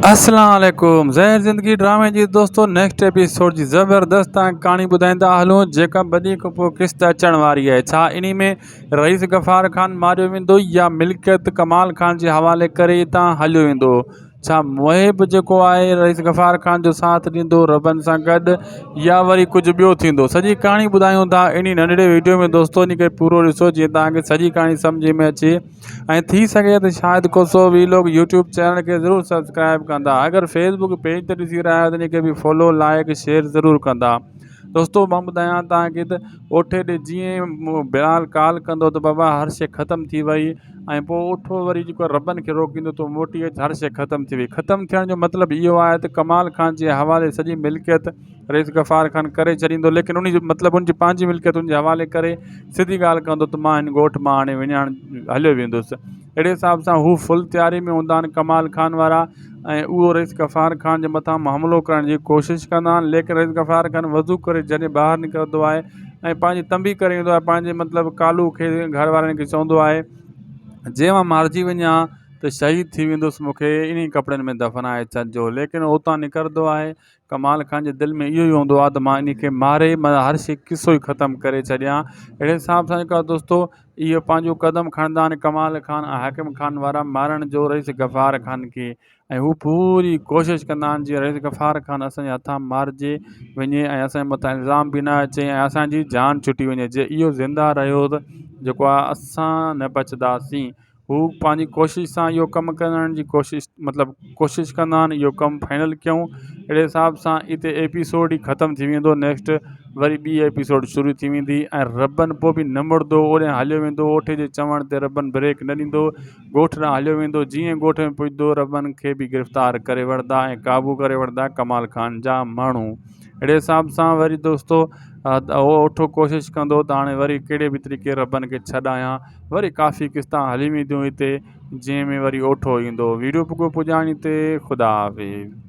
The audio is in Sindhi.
اسلام عليڪم زهر زندگي ڊرامي جي دوستو نيڪسٽ ايپيسوڊ جي زبردست تان ڪهاڻي ٻڌائيندا هلون جيڪا ٻني کان پوء قسط اچڻ واري آهي ڇا انهي ۾ رئيس غفار خان ماريو ويندو يا ملڪيت ڪمال خان جي حوالي ڪري اتان هليو ويندو ڇا محب جيڪو آهي رئيس غفار خان جو ساٿ ڏيندو ربن سان گڏ يا وري ڪجهه ٻيو ٿيندو سڄي ڪهاڻي ٻڌايون ٿا انهي ننڍڙي وڊيو ۾ دوستو انهي کي پورو ڏسو جيئن توهان کي سڄي ڪهاڻي سمجهه ۾ اچي ۽ ٿي سگهي ته شايد ڪوسو وي لوگ يوٽيوب چينل کي ضرور سبسڪرائب ڪندا اگر فيس بڪ پيج تي ڏسي رهيا آهيو ته ان کي به فالو لائڪ شيئر ضرور ڪندا دوستو مان ٻڌايان توهان کي ته اوٺي ڏي جيئن بلال ڪال ڪندو ته بابا هر شي ختم ٿي وئي ۽ پوء اوٺو وري جيڪو ربن کي روڪيندو تون موٽي اچ هر شي ختم ٿي وئي ختم ٿيڻ جو مطلب اهو آهي ته ڪمال خان جي حوالي سڄي ملڪيت رئيس غفار خان ڪري ڇڏيندو ليڪن انهي جو مطلب ان جي پنهنجي ملڪيتن جي حوالي ڪري سڌي ڳالهه ڪندو ته مان هن ڳوٺ مان هاڻي وڃائڻ هليو ويندس اهڙي حساب سان هو فل تياري ۾ هوندا آهن ڪمال خان وارا ۽ اهو رئيس غفار خان جي مٿان حملو ڪرڻ جي ڪوشش ڪندا آهن ليڪن رئيس غفار خان وضو ڪري جڏهن ٻاهر نڪرندو آهي ۽ پنهنجي تنبي ڪري ايندو آهي پنهنجي مطلب ڪالو کي گهر وارن کي چوندو آهي جي مان مارجي وڃان ها ته شهيد ٿي ويندس مون کي انهي ڪپڙن ۾ دفنائي ڇڏجو ليڪن هو اتان نڪرندو آهي ڪمال خان جي دل ۾ اهو ئي هوندو آهي ته مان انهي کي ماري مطلب هر شي قصو ئي ختم ڪري ڇڏيان اهڙي حساب سان جيڪو آهي دوستو اهو پنهنجو قدم کڻندا آهن ڪمال خان ۽ حاڪم خان وارا مارڻ جو رئيس غفار خان کي ۽ هو پوري ڪوشش ڪندا آهن جيئن رئيس غفار خان اسانجي هٿان مارجي وڃي ۽ اسانجي مٿان الزام به نه اچي ۽ اسانجي جان ڇٽي وڃي جي اهو زنده رهيو ته جيڪو آهي اسان نه بچداسين هو پنهنجي ڪوشش سان اهو ڪم ڪرڻ جي ڪوشش مطلب ڪوشش ڪندا آهن اهو ڪم فائنل ڪيون اهڙي حساب سان هتي ايپيسوڊ ئي ختم ٿي ويندو نيڪسٽ وري ٻي ايپيسوڊ شروع ٿي ويندي ۽ ربن پوء بي نه مڙدو اوڏانهن هليو ويندو اوٺي جي چوڻ تي ربن بريڪ نه ڏيندو ڳوٺ ڏانهن هليو ويندو جيئن ڳوٺ ۾ پڄدو ربن کي به گرفتار ڪري وٺدا ۽ قابو ڪري وٺدا ڪمال خان جا ماڻهو اهڙي حساب سان وري دوستو اهو اٺو ڪوشش ڪندو ته هاڻي وري ڪهڙي به طريقي ربن کي ڇڏايان وري ڪافي قسطان هلي وينديون هتي جنهن ۾ وري اوٺو ايندو ويڊيو پڳو پڄاڻي تي خدا حافظ.